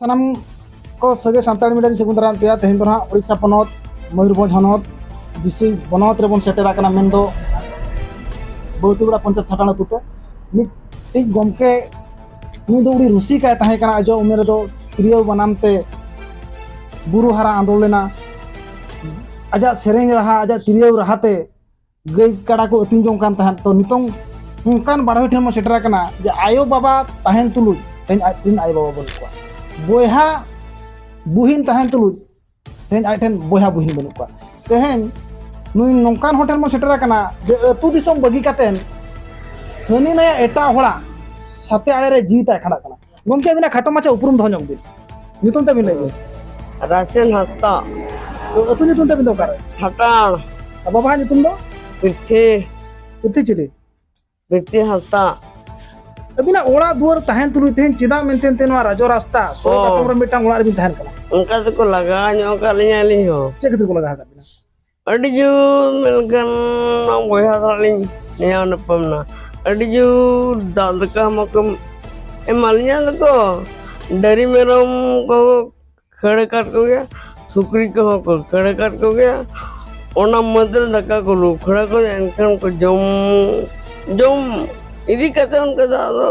ᱥᱟᱱᱟᱢ ᱠᱚ ᱥᱟᱹᱜᱟᱹᱭ ᱥᱟᱱᱛᱟᱲ ᱢᱤᱰᱤᱭᱟ ᱨᱮ ᱥᱟᱹᱜᱩᱱ ᱫᱟᱨᱟᱢ ᱛᱮᱭᱟ ᱛᱮᱦᱮᱧ ᱫᱚ ᱱᱟᱦᱟᱜ ᱳᱰᱤᱥᱟ ᱯᱚᱱᱚᱛ ᱢᱚᱭᱩᱨᱵᱷᱚᱸᱡᱽ ᱦᱚᱱᱚᱛ ᱵᱤᱥᱩᱭ ᱵᱚᱱᱚᱛ ᱨᱮᱵᱚᱱ ᱥᱮᱴᱮᱨ ᱟᱠᱟᱱᱟ ᱢᱮᱱ ᱫᱚ ᱵᱟᱹᱣᱛᱤᱜᱩᱲᱟ ᱯᱚᱧᱪᱟᱭᱮᱛ ᱪᱷᱟᱴᱟᱱ ᱟᱹᱛᱩ ᱛᱮ ᱢᱤᱫᱴᱤᱡ ᱜᱚᱢᱠᱮ ᱩᱱᱤ ᱫᱚ ᱟᱹᱰᱤ ᱨᱩᱥᱤᱠᱟᱭ ᱛᱟᱦᱮᱸ ᱠᱟᱱᱟ ᱟᱡᱟᱜ ᱩᱢᱮᱨ ᱨᱮᱫᱚ ᱛᱤᱨᱭᱳ ᱵᱟᱱᱟᱢ ᱛᱮ ᱵᱩᱨᱩ ᱦᱟᱨᱟ ᱟᱸᱫᱳᱲ ᱞᱮᱱᱟ ᱟᱡᱟᱜ ᱥᱮᱨᱮᱧ ᱨᱟᱦᱟ ᱟᱡᱟᱜ ᱛᱤᱨᱭᱳ ᱨᱟᱦᱟ ᱛᱮ ᱜᱟᱹᱭ ᱠᱟᱰᱟ ᱠᱚ ᱟᱹᱛᱤᱧ ᱡᱚᱝ ᱠᱟᱱ ᱛᱟᱦᱮᱸᱫ ᱛᱚ ᱱᱤᱛᱚᱝ ᱚᱱᱠᱟᱱ ᱵᱟᱰᱟᱭ ᱴᱷᱮᱱ ᱵᱚᱱ ᱥᱮᱴᱮᱨ ᱟᱠᱟᱱᱟ ᱡᱮ ᱟᱭᱳ ᱵᱟᱵᱟ ᱛᱟᱦᱮᱱ ᱛᱩᱞᱩᱡ ᱛᱮᱦᱮᱧ ᱟᱡ ᱨᱮᱱ ᱟᱭᱳ ᱵᱟᱵᱟ ᱵᱟᱹᱱᱩᱜ ᱠᱚᱣᱟ ᱵᱚᱭᱦᱟ ᱵᱩᱦᱤᱱ ᱛᱟᱦᱮᱱ ᱛᱩᱞᱩᱡ ᱛᱮᱦᱮᱧ ᱟᱡ ᱴᱷᱮᱱ ᱵᱚᱭᱦᱟ ᱵᱩᱦᱤᱱ ᱵᱟᱹᱱᱩᱜ ᱠᱚᱣᱟ ᱛᱮᱦᱮᱧ ᱱᱩᱭ ᱱᱚᱝᱠᱟᱱ ᱦᱚᱲ ᱴᱷᱮᱱ ᱵᱚᱱ ᱥᱮᱴᱮᱨ ᱟᱠᱟᱱᱟ ᱡᱮ ᱟᱹᱛᱩ ᱫᱤᱥᱚᱢ ᱵᱟᱹᱜᱤ ᱠᱟᱛᱮᱱ ᱦᱟᱹᱱᱤ ᱱᱟᱭᱟ ᱮᱴᱟᱜ ᱦᱚᱲᱟᱜ ᱥᱟᱛᱮ ᱟᱲᱮ ᱨᱮ ᱡᱤᱣᱤ ᱛᱟᱭ ᱠᱷᱟᱸᱰᱟᱜ ᱠᱟᱱᱟ ᱜᱚᱢᱠᱮ ᱟᱹᱵᱤᱱᱟᱜ ᱠᱷᱟᱴᱚ ᱢᱟᱪᱷᱟ ᱩᱯᱨᱩᱢ ᱫᱚᱦᱚ ᱧᱚᱜ ᱵᱤᱱ ᱧᱩᱛᱩᱢ ᱛᱟᱹᱵᱤᱱ ᱞᱟᱹᱭ ᱵᱤᱱ ᱨᱟᱥᱮᱞ ᱦᱟᱸᱥᱫᱟ ᱟᱹᱛᱩ ᱧᱩᱛᱩᱢ ᱛᱟᱹᱵᱤᱱ ᱫᱚ ᱚᱠᱟᱨᱮ ᱠᱷᱟᱴᱟᱲ ᱟᱨ ᱵᱟᱵᱟᱣᱟᱜ ᱧᱩᱛᱩᱢ ᱫᱚ ᱯᱤᱛᱷᱤ ᱯᱩᱛᱤ ᱪᱤᱞᱤ ᱯᱤᱛᱷᱤ ᱦᱟᱸᱥᱫᱟ ᱟᱹᱵᱤᱱᱟᱜ ᱚᱲᱟᱜ ᱫᱩᱣᱟᱹᱨ ᱛᱟᱦᱮᱱ ᱛᱩᱞᱩᱡ ᱛᱮᱦᱮᱧ ᱪᱮᱫᱟᱜ ᱢᱮᱱᱛᱮ ᱛᱮ ᱱᱚᱣᱟ ᱨᱟᱡᱚ ᱨᱟᱥᱛᱟ ᱥᱚᱲᱚᱠ ᱚ᱾ ᱟᱛᱚᱢ ᱨᱮ ᱢᱤᱫᱴᱟᱝ ᱚᱲᱟᱜ ᱨᱮᱵᱤᱱ ᱛᱟᱦᱮᱱ ᱠᱟᱱᱟ ᱚᱱᱠᱟ ᱛᱮᱠᱚ ᱞᱟᱜᱟᱣ ᱧᱚᱜ ᱟᱠᱟᱫ ᱞᱤᱧᱟ ᱟᱹᱞᱤᱧ ᱦᱚᱸ ᱪᱮᱫ ᱠᱷᱟᱹᱛᱤᱨ ᱠᱚ ᱞᱟᱜᱟᱣ ᱟᱠᱟᱫ ᱵᱤᱱᱟ ᱟᱹᱰᱤ ᱡᱳᱨ ᱢᱮᱱᱠᱷᱟᱱ ᱵᱚᱭᱦᱟ ᱥᱟᱞᱟᱜ ᱞᱤᱧ ᱱᱮᱭᱟᱣ ᱱᱟᱯᱟᱢ ᱱᱟ ᱟᱹᱰᱤ ᱡᱳᱨ ᱫᱟᱜ ᱫᱟᱠᱟ ᱢᱟᱠᱚ ᱮᱢᱟ ᱞᱤᱧᱟ ᱫᱚᱠᱚ ᱰᱟᱹᱨᱤ ᱢᱮᱨᱚᱢ ᱠᱚ ᱠᱷᱟᱹᱲ ᱟᱠᱟᱫ ᱠᱚᱜᱮᱭᱟ ᱥᱩᱠᱨᱤ ᱠᱚᱦᱚᱸ ᱠᱚ ᱠᱷᱟᱹᱲ ᱟᱠᱟᱫ ᱠᱚᱜᱮᱭᱟ ᱚᱱᱟ ᱢᱟᱹᱫᱽᱨᱮ ᱫᱟᱠᱟ ᱠᱚ ᱞᱩ ᱠᱷᱟᱹᱲ ᱟᱠᱚ ᱮᱱᱠᱷᱟᱱ ᱠᱚ ᱡᱚᱢ ᱡᱚᱢ ᱤᱫᱤ ᱠᱟᱛᱮᱫ ᱚᱱᱠᱟ ᱫᱚ ᱟᱫᱚ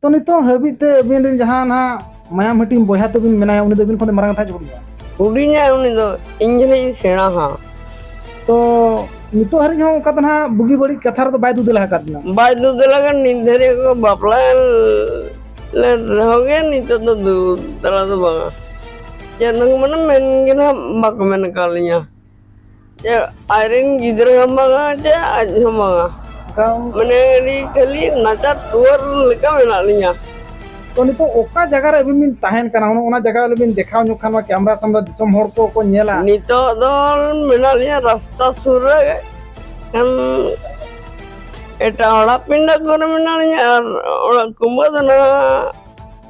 ᱛᱚ ᱱᱤᱛᱚᱜ ᱦᱟᱹᱵᱤᱡ ᱛᱮ ᱟᱹᱵᱤᱱ ᱨᱮᱱ ᱡᱟᱦᱟᱸ ᱱᱟᱦᱟᱜ ᱢᱟᱭᱟᱢ ᱦᱟᱹᱴᱤᱧ ᱵᱚᱭᱦᱟ ᱛᱟᱹᱵᱤᱱ ᱢᱮᱱᱟᱭᱟ ᱩᱱᱤ ᱫᱚ ᱟᱹᱵᱤᱱ ᱠᱷᱚᱱ ᱫᱚ ᱢᱟᱨᱟᱝ ᱠᱟᱛᱷᱟ ᱡᱚᱠᱷᱚᱱ ᱜᱮᱭᱟ ᱦᱩᱰᱤᱧᱟᱭ ᱩᱱᱤ ᱫᱚ ᱤᱧ ᱡᱟᱹᱱᱤᱡ ᱤᱧ ᱥᱮᱬᱟ ᱦᱟᱸᱜ ᱛᱚ ᱱᱤᱛᱚᱜ ᱦᱟᱹᱨᱤᱡ ᱦᱚᱸ ᱚᱱᱠᱟ ᱫᱚ ᱱᱟᱦᱟᱜ ᱵᱩᱜᱤ ᱵᱟᱹᱲᱤᱡ ᱠᱟᱛᱷᱟ ᱨᱮᱫᱚ ᱵᱟᱭ ᱫᱩᱫᱟᱹᱞᱟ ᱟᱠᱟᱫ ᱵᱤᱱᱟ ᱵᱟᱭ ᱫᱩᱫᱟᱹᱞᱟ ᱟᱠᱟᱫ ᱱᱤᱛ ᱫᱷᱟᱹᱨᱤᱡ ᱠᱚ ᱵᱟᱯᱞᱟ ᱞᱮ ᱨᱮᱦᱚᱸ ᱜᱮ ᱱᱤᱛᱚᱜ ᱫᱚ ᱫᱩᱫᱟᱹᱞᱟ ᱫᱚ ᱵᱟᱝᱟ ᱪᱮᱫ ᱦᱚᱸ ᱢᱟᱱᱮ ᱢᱮᱱ ᱜᱮ ᱱᱟᱦᱟᱜ ᱵᱟᱠᱚ ᱢᱮᱱ ᱟᱠᱟᱫ ᱞᱤᱧᱟ ᱟᱡᱨᱮᱱ ᱜᱤᱫᱽᱨᱟᱹ ᱦᱚᱸ ᱵᱟᱝᱟ ᱡᱮ ᱟᱡ ᱦᱚᱸ ᱵᱟᱝᱟ ᱢᱟᱱᱮ ᱟᱹᱰᱤ ᱠᱷᱟᱹᱞᱤ ᱱᱟᱪᱟᱨ ᱴᱩᱣᱟᱹᱨ ᱞᱮᱠᱟ ᱢᱮᱱᱟᱜ ᱞᱤᱧᱟ ᱛᱚ ᱱᱤᱛᱚᱜ ᱚᱠᱟ ᱡᱟᱭᱜᱟ ᱨᱮ ᱟᱹᱵᱤᱱ ᱵᱤᱱ ᱛᱟᱦᱮᱱ ᱠᱟᱱᱟ ᱚᱱᱟ ᱡᱟᱭᱜᱟ ᱨᱮ ᱵᱤᱱ ᱫᱮᱠᱷᱟᱣ ᱧᱚᱜ ᱠᱷᱟᱱ ᱢᱟ ᱠᱮᱢᱨᱟ ᱥᱟᱢᱱᱟ ᱫᱤᱥᱚᱢ ᱦᱚᱲ ᱠᱚ ᱠᱚ ᱧᱮᱞᱟ ᱱᱤᱛᱚᱜ ᱫᱚ ᱢᱮᱱᱟᱜ ᱞᱤᱧᱟ ᱨᱟᱥᱛᱟ ᱥᱩᱨ ᱨᱮ ᱠᱷᱟᱱ ᱮᱴᱟᱜ ᱦᱚᱲᱟᱜ ᱯᱤᱸᱰᱟᱹ ᱠᱚᱨᱮ ᱢᱮᱱᱟᱜ ᱞᱤᱧᱟ ᱟᱨ ᱚᱲᱟᱜ ᱠᱩᱢᱵᱟᱹ ᱫᱚ ᱱᱟᱦᱟᱜ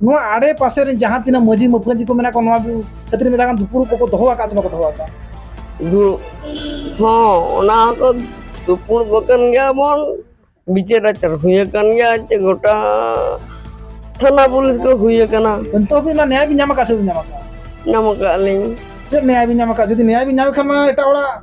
ᱱᱚᱣᱟ ᱟᱲᱮ ᱯᱟᱥᱮ ᱨᱮ ᱡᱟᱦᱟᱸ ᱛᱤᱱᱟᱹᱜ ᱢᱟᱹᱡᱷᱤ ᱢᱟᱹᱯᱟᱹᱡᱷᱤ ᱠᱚ ᱢᱮᱱᱟᱜ ᱠᱚᱣᱟ ᱱᱚᱣᱟ ᱠᱷᱟᱹᱛᱤᱨ ᱢᱮᱛᱟ ᱠᱟᱱ ᱫᱩᱯᱩᱲᱩᱵ ᱠᱚᱠᱚ ᱫᱚᱦᱚ ᱟᱠᱟᱫ ᱥᱮ ᱵᱟᱠᱚ ᱫᱚᱦᱚ ᱟᱠᱟᱫ ᱫᱩ ᱦᱚᱸ ᱚᱱᱟ ᱫᱚ ᱫᱩᱯᱩᱲᱩᱵ ᱟᱠᱟᱱ ᱜᱮᱭᱟ ᱵᱚᱱ ᱵᱤᱪᱟᱹᱨ ᱟᱪᱟᱨ ᱦᱩᱭ ᱟᱠᱟᱱ ᱜᱮᱭᱟ ᱪᱮ ᱜᱚᱴᱟ ᱛᱷᱟᱱᱟ ᱯᱩᱞᱤᱥ ᱠᱚ ᱦᱩᱭ ᱟᱠᱟᱱᱟ ᱱᱤᱛᱚᱜ ᱦᱟᱹᱵᱤᱡ ᱚᱱᱟ ᱱᱮᱭᱟᱭ ᱵᱤᱱ ᱧᱟᱢ ᱟᱠᱟᱫ ᱥᱮ ᱵᱟᱵᱤᱱ ᱧᱟᱢ ᱟᱠᱟᱫ ᱧᱟᱢ ᱟᱠᱟᱫ ᱞᱤᱧ ᱪᱮᱫ ᱱᱮᱭᱟᱭ ᱵᱤᱱ ᱧᱟᱢ ᱟᱠᱟᱫ ᱡᱩᱫᱤ ᱱᱮᱭᱟᱭ ᱵᱤᱱ ᱧᱟᱢ ᱠᱷᱟᱱ ᱢᱟ ᱮᱴᱟᱜ ᱦᱚᱲᱟᱜ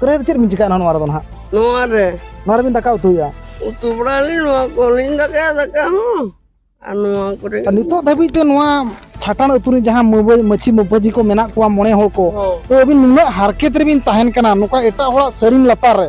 ᱠᱚᱨᱮ ᱪᱮᱫ ᱵᱤᱱ ᱪᱤᱠᱟᱹᱭᱟ ᱱᱚᱣᱟ ᱨᱮᱫᱚ ᱱᱟᱦᱟᱜ ᱱᱚᱣᱟ ᱨᱮ ᱱᱚᱣᱟ ᱨᱮᱵᱤᱱ ᱫᱟᱠᱟ ᱩᱛᱩᱭᱟ ᱩᱛᱩ ᱵᱟᱲᱟᱞᱤᱧ ᱱᱚᱣᱟ ᱠᱚᱞᱤᱧ ᱫᱟᱠᱟᱭᱟ ᱫᱟᱠᱟ ᱦᱚᱸ ᱟᱨ ᱱᱚᱣᱟ ᱠᱚᱨᱮ ᱱᱤᱛᱚᱜ ᱫᱷᱟᱹᱵᱤᱡ ᱛᱮ ᱱᱚᱣᱟ ᱪᱷᱟᱴᱟᱱ ᱟᱹᱛᱩ ᱨᱮ ᱡᱟᱦᱟᱸ ᱢᱟᱹᱪᱷᱤ ᱢᱟᱹᱯᱟᱹᱡᱤ ᱠᱚ ᱢᱮᱱᱟᱜ ᱠᱚᱣᱟ ᱢᱚᱬᱮ ᱦᱚᱲ ᱠᱚ ᱛᱚ ᱟᱹᱵᱤᱱ ᱱᱩᱱᱟᱹᱜ ᱦᱟᱨᱠᱮᱛ ᱨᱮᱵᱤᱱ ᱛᱟᱦᱮᱱ ᱠᱟᱱᱟ ᱱᱚᱝᱠᱟ ᱮᱴᱟᱜ ᱦᱚᱲᱟᱜ ᱥᱟᱹᱨᱤᱢ ᱞᱟᱛᱟᱨ ᱨᱮ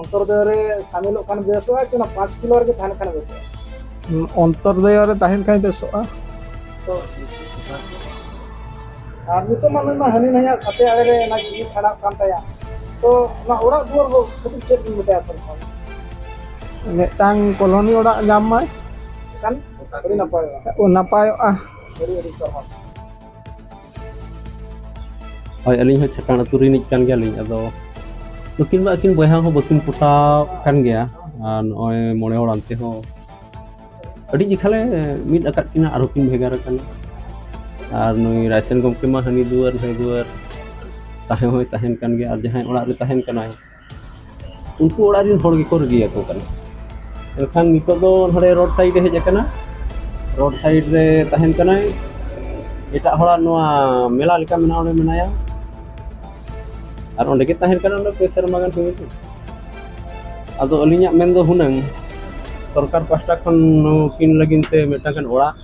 ᱚᱱᱛᱚᱨᱫᱚᱭᱚ ᱨᱮ ᱥᱟᱢᱤᱞᱚᱜ ᱠᱷᱟᱱ ᱵᱮᱥᱚᱜᱼᱟ ᱥᱮ ᱚᱱᱟ ᱯᱟᱸᱪ ᱠᱤᱞᱳ ᱨᱮᱜᱮ ᱛᱟᱦᱮᱱ ᱠᱷᱟᱱ ᱵᱮᱥᱚᱜᱼᱟ ᱚᱱᱛᱚᱨᱫᱚᱭᱚ ᱨᱮ ᱛᱟᱦᱮᱱ ᱠᱷᱟᱱ ᱵᱮᱥᱚᱜᱼᱟ ᱛᱚ ᱟᱨ ᱱᱤᱛᱚᱜ ᱢᱟ ᱱᱩᱭ ᱢᱟ ᱦᱟᱹᱱᱤ ᱱᱟᱹᱭᱟᱜ ᱥᱟᱛᱮ ᱟᱲᱮ ᱨᱮ ᱚᱱᱟ ᱡᱤᱣᱤ ᱠᱷᱟᱸᱰᱟᱜ ᱠᱟᱱ ᱛᱟᱭᱟ ᱛᱚ ᱚᱱᱟ ᱚᱲᱟᱜ ᱫᱩᱣᱟᱹᱨ ᱠᱚ ᱠᱷᱟᱹᱛᱤᱨ ᱪᱮᱫ ᱵᱤᱱ ᱢᱮᱛᱟᱭᱟ ᱥᱚᱨᱠᱟᱨ ᱢᱤᱫᱴᱟᱝ ᱠᱚᱞᱚᱱᱤ ᱚᱲᱟᱜ ᱧᱟᱢ ᱢᱟᱭ ᱮᱱᱠᱷᱟᱱ ᱟᱹᱰᱤ ᱱᱟᱯᱟᱭᱚᱜᱼᱟ ᱱᱟᱯᱟᱭᱚᱜᱼᱟ ᱟᱹᱰᱤ ᱟᱹᱰᱤ ᱥᱟᱨᱦᱟᱣ ᱦᱳᱭ ᱟᱹᱞᱤᱧ ᱦᱚᱸ ᱪᱷᱟᱠᱟᱱ ᱟᱹᱛᱩ ᱨᱤᱱᱤᱡ ᱠᱟᱱ ᱜᱮᱭᱟᱞᱤᱧ ᱟᱫᱚ ᱱᱩᱠᱤᱱ ᱢᱟ ᱟᱹᱠᱤᱱ ᱵᱚᱭᱦᱟ ᱦᱚᱸ ᱵᱟᱹᱠᱤᱱ ᱯᱚᱴᱟᱣ ᱠᱟᱱ ᱜᱮᱭᱟ ᱟᱨ ᱱᱚᱜᱼᱚᱭ ᱢᱚᱬᱮ ᱦᱚᱲ ᱟᱱᱛᱮ ᱦᱚᱸ ᱟᱹᱰᱤ ᱡᱮᱠᱷᱟᱞᱮ ᱢᱤᱫ ᱟᱠᱟᱫ ᱠᱤᱱᱟ ᱟᱨᱦᱚᱸ ᱠᱤᱱ ᱵᱷᱮᱜᱟᱨ ᱟᱠᱟᱱᱟ ᱟᱨ ᱱᱩᱭ ᱨᱟᱭᱥᱮᱱ ᱜᱚᱢᱠᱮ ᱢᱟ ᱦᱟᱹᱱᱤ ᱫᱩᱣᱟᱹᱨ ᱱᱟᱹᱭ ᱫᱩᱣᱟᱹᱨ ᱛᱟᱦᱮᱸ ᱦᱚᱸᱭ ᱛᱟᱦᱮᱱ ᱠᱟᱱ ᱜᱮᱭᱟ ᱟᱨ ᱡᱟᱦᱟᱸᱭ ᱚᱲᱟᱜ ᱨᱮ ᱛᱟᱦᱮᱱ ᱠᱟᱱᱟᱭ ᱩᱱᱠᱩ ᱚᱲᱟᱜ ᱨᱮᱱ ᱦᱚᱲ ᱜᱮᱠᱚ ᱨᱟᱹᱜᱤᱭᱟᱠᱚ ᱠᱟᱱᱟ ᱮᱱᱠᱷᱟᱱ ᱱᱤᱛᱚᱜ ᱫᱚ ᱱᱚᱰᱮ ᱨᱳᱰ ᱥᱟᱭᱤᱰ ᱮ ᱦᱮᱡ ᱟᱠᱟᱱᱟ ᱨᱳᱰ ᱥᱟᱭᱤᱰ ᱨᱮ ᱛᱟᱦᱮᱱ ᱠᱟᱱᱟᱭ ᱮᱴᱟᱜ ᱦᱚᱲᱟᱜ ᱱᱚᱣᱟ ᱢᱮᱞᱟ ᱞᱮᱠᱟ ᱢᱮᱱᱟᱜᱼᱟ ᱚᱸᱰᱮ ᱢᱮᱱᱟᱭᱟ ᱟᱨ ᱚᱸᱰᱮ ᱜᱮ ᱛᱟᱦᱮᱱ ᱠᱟᱱᱟ ᱚᱸᱰᱮ ᱯᱮ ᱥᱮᱨᱢᱟ ᱜᱟᱱ ᱦᱩᱭ ᱟᱠᱟᱱᱟ ᱟᱫᱚ ᱟᱹᱞᱤᱧᱟᱜ ᱢᱮᱱ ᱫᱚ ᱦᱩᱱᱟᱹᱝ ᱥᱚᱨᱠᱟᱨ ᱯᱟᱥᱴᱟ ᱠᱷᱚᱱ ᱱᱩᱠᱤᱱ ᱞᱟᱹᱜᱤᱫ ᱛᱮ ᱢᱤᱫᱴᱟᱝ ᱜᱟᱱ ᱚᱲᱟᱜ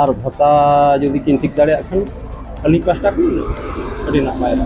ᱟᱨ ᱵᱷᱟᱛᱟ ᱡᱩᱫᱤ ᱠᱤᱱ ᱴᱷᱤᱠ ᱫᱟᱲᱮᱭᱟᱜ ᱠᱷᱟᱱ ᱟᱹᱞᱤᱧ ᱯᱟᱥᱴᱟ ᱠᱷᱚᱱ ᱟᱹᱰᱤ ᱱᱟᱯᱟᱭᱚᱜᱼᱟ